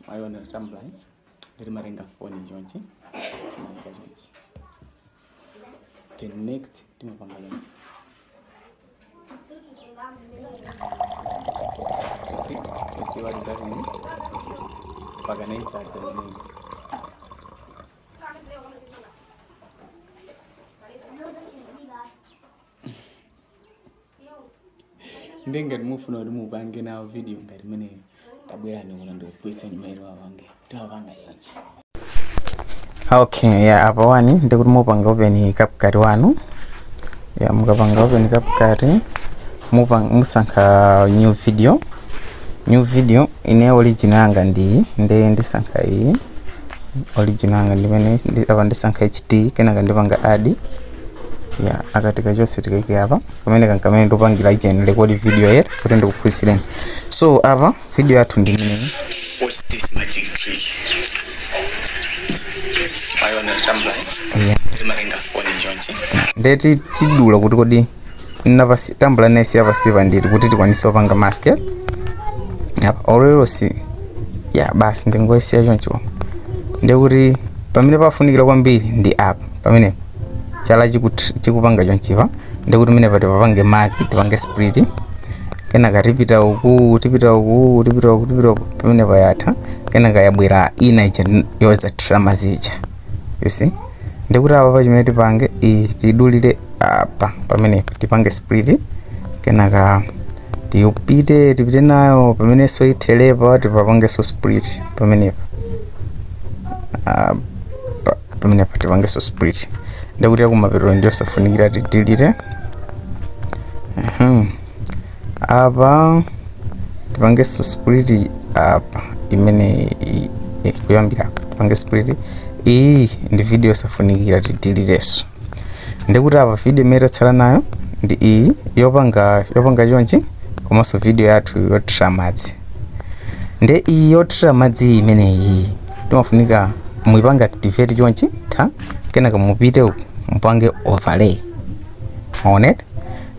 mwaiona tambula eh? ndiri marenga foni njonji maika njonji the next timapanga yona usi usi walizakuni mpaka naitsatsa mnini ndi ngati mufuna kuti mupange nawo video ngati imeneyo tabwerani kuno ndikuphunzitsani mmene wapange tiwapanga yonse okay ya apa wani ndikuti mupanga open CapCut wanu ya mukapanga open CapCut mupanga musankha new video new video ine origin yanga ndi nde ndisankha iyi origin yanga ndimene ndi- apa ndisankha hd kenaka ndipanga add ya kakatikachonse tikaike apa kamene kankamene ndapangira screen record video yet kuti ndikuphunzitseni so apa video yathu ndi imeneyi What's this magic trick? Ayi ona tambula. yeah. Limarenga phone njonje. ndiye tidula kuti kodi napasi tambula ndisiya pansipa ndi kuti tikwanise kupanga mask eh? yapa olero si ya basi ndingoyesiya choncho ndikuti pamene pafunikira kwambiri ndi apa pamenepa chala chikut- chikupanga chonchipa ndikuti pamenepa tipapange mark tipange split kenaka tipita uku tipita uku tipita uku tipita uku pamene yatha kenaka yabwera ina ija n- yothira madzi ija you see ndikuti apapa chimene tipange iyi tidulire apa pamene tipange split kenaka tiyupite tipite nayo pamene pothera pa tipapange so split pamenepa apa pamenepa tipangenso split ndikuti yakumapeto ndi yosafunikira tidelete Mhm. apa tipangenso split apa imene i- i- kuyambira apa tipange split iyi ndi video yosafunikira tideletenso ndikuti apa video imene tatsala nayo ndi iyi yopanga yopanga chonchi komanso video yathu yothira madzi nde iyi yothira madzi imeneyi timafunika muipange activate chonchi mwatha kenaka mupite uku mupange overlay mwaona eti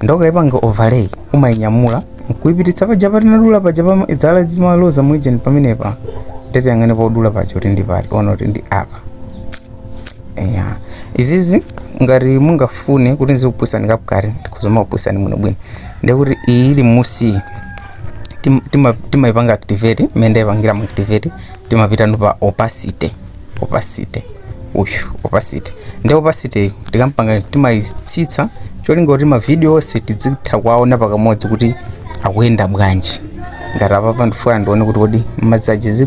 ndikaipanga overlay umainyamula nkuipititsa paja patinadula paja pamene zala zimaloza mujamu pamenepa nde tiyang'ane podula paja kuti ndi pati onani kuti ndi apa eya izizi ngati mungafune kuti ndizikuphunzitsani CapCut ndikhoza kumakuphunzitsani bwino bwino ndikuti iyi ili mmunsiyi timaipanga activate mmene ndaipangiramu activate timapita ku opacity opacity uyu opacity ndi opacityyo tikampanga timayitsitsa cholinga kuti mavidiyo onse tidzitha kuwaona pakamodzi kuti akuyenda bwanji ngati apapa ndifuna ndione kuti kodi madzi aja agwera